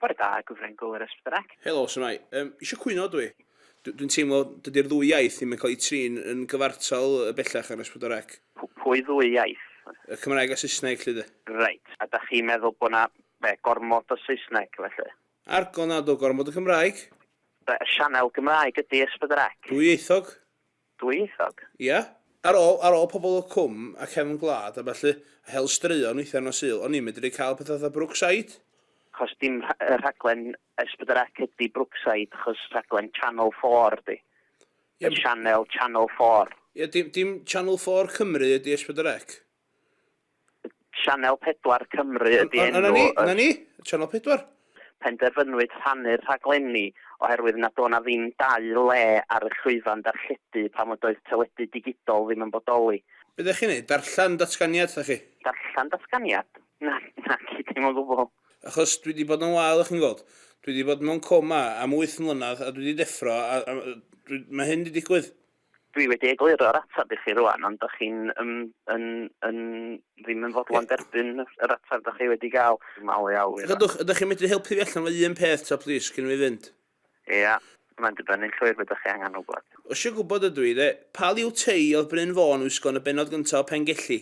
Bore da, Gwifren Gwl yr Ysbyddrec. Helo, shwmae? Yym, isio cwyno dw i. Dw- dwi'n teimlo dydy'r ddwy iaith ddim yn cael eu trin yn gyfartal yy bellach ar Ysbyddrec. P- pwy ddwy iaith? Y Cymraeg a Saesneg, 'lly de. Reit, a dach chi'n meddwl bod 'na, be, gormod o Saesneg, felly? Argol nad o, gormod o Gymraeg. Be, y sianel Gymraeg ydi Ysbyddrec? Dwyieithog. Dwyieithog? Ia. Ar ôl, ar ôl pobl o Cwm a Cefn Gwlad a ballu, a hel straeon weithiau nos Sul, o'n i'n medru cael pethau fatha Brookside. Achos dim rha- yy rhaglen S pedwar Ec ydi Brookside, achos rhaglen Channel Four ydi. Ie, Y sianel Channel Four. Ie, dim, dim Channel Four Cymru ydi S pedwar Ec. Sianel 4 Cymru ydi enw y... Dyna ni, dyna ni, Sianel 4. Penderfynwyd rhannu'r rhaglenni oherwydd nad o' 'na ddim dau le ar y llwyfan darlledu pan fod oedd teledu digidol ddim yn bodoli. Be dach chi'n neud, darllen datganiad dach chi? Darllen datganiad? Na, naci, dim o gwbwl. Achos dwi 'di bod yn wael chi'n gweld. Dwi 'di bod mewn coma am wyth mlynadd a dwi 'di deffro a a dwi... Mae hyn 'di digwydd. Dwi wedi egluro'r ateb i chi rwan, ond dych chi'n um, yn, yn, ddim yn fodlon derbyn yr ateb dych chi wedi gael. Mal i awyr. Gadwch, ydych chi'n medru helpu fi allan fo un peth ta plis, cyn fi fynd? Ia, mae'n dibynnu'n llwyr beth chi angen wybod. Osio gwybod ydw i, de. Pa liw tei oedd Bryn Fôn wisgo yn y bennod gyntaf o Pengelli?